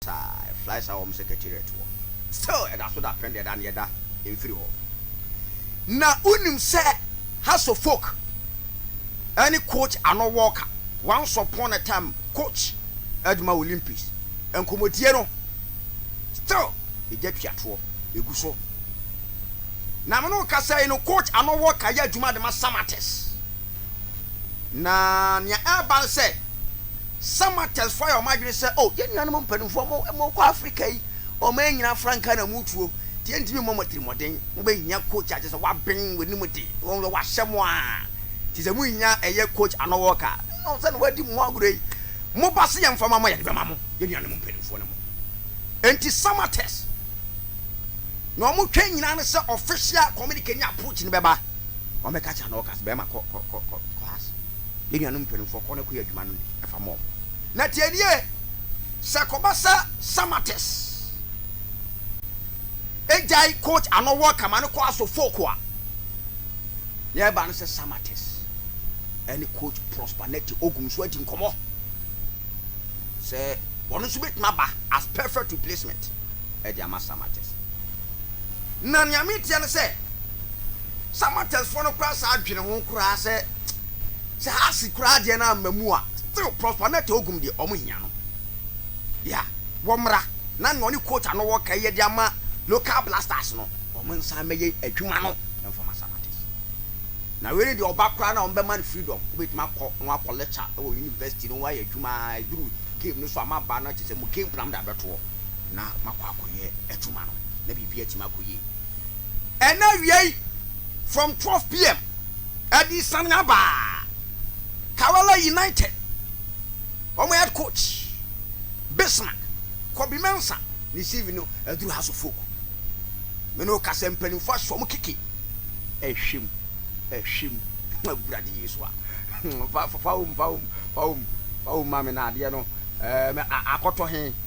saa a ɛfly saa wɔ mo secretariat hɔ still ɛda so dapɛn deɛ ɛda no yɛda ɛmfiri hɔ na wonim sɛ has of folk ɛne coach ano wɔka once upon a time coach adwuma olympics nkɔmɔdie no still ɛgya tuatoɔ ɛgu so na mene wokasa yi no coach ano wɔka yɛ adwuma de ma samates na nea ɛba no sɛ Some Martyrs fo ayɛ wɔn adwene sɛ, Oh, yɛn nuanom mpanimfoɔ, mo, morekɔ Afrika yi, ɔmannyina frankaa na moretuo, nti yɛntumi mmɔ mo atirimmɔden. Mobɛhia coach a kyerɛ sɛ waben w'anim de, wɔn deɛ wɔahyɛ mo a, nti sɛ mohia ɛyɛ coach anɔwɔk a, oh, sɛdeɛ wɔadi mo ho agorɔ yi, moba sɛ yɛmfa mma mo a, yɛde bɛma mo. Yɛn nuanom mpanimfoɔ ne mo. Enti some Martyrs, nea wɔtwɛn nyinaa ne sɛ official communique ne approach no bɛba, wɔbɛka akyerɛ anɔwɔk a sɛ, Barima, kɔ, kɔ, kɔ, kɔ class. yɛn nuanom mpanimfoɔ kɔ na kɔyɛ adwuma no de fa ma wɔn. Na tie nie, sɛ ɛkɔba sɛ Samatex gyae coach ano worka ma no kɔ aso folk a, nea ɛba no sɛ Samatex ɛne coach Prosper Nette Ogum nso adi nkɔmmɔ sɛ wɔn nso bɛtumi aba as perfect replacement ɛde ama Samatex. Na nea meteɛ no sɛ, Samatex foɔ no koraa saa adwene ho koraa sɛ sɛ ha se koraa deɛ no amma mu a still Prosper Mɛta Ogum deɛ ɔmo hia no dea wɔmmra na nea ɔne coach ano wɔ ka yi de ama local blasters no ɔmo nsan mɛyɛ adwuma no mfa ma Samatex na wei ne deɛ ɔba koraa no a ɔmo bɛma no freedom wobɛtumi akɔ na wakɔ lecture ɛwɔ university no wayɛ adwuma a ɛduru game no so a maba no kyɛ sɛ mo game plan mo de abɛtoɔ na makɔ akɔyɛ adwuma no na biribi atumi akɔ yie. Ɛna awia yi from twelve pm ɛde sane aba Karawala United wɔn head coach Bismark Kobi Mensah ne CV no aduru House of Folk me ne wo ka sɛ mpanimfoɔ ahyɛ wɔn keke ɛhwɛ mu ɛhwɛ mu Awurade Yesu a fa fa fa wɔm fa wɔm fa wɔm fa wɔm ma me na adeɛ no ɛɛ akɔtɔ he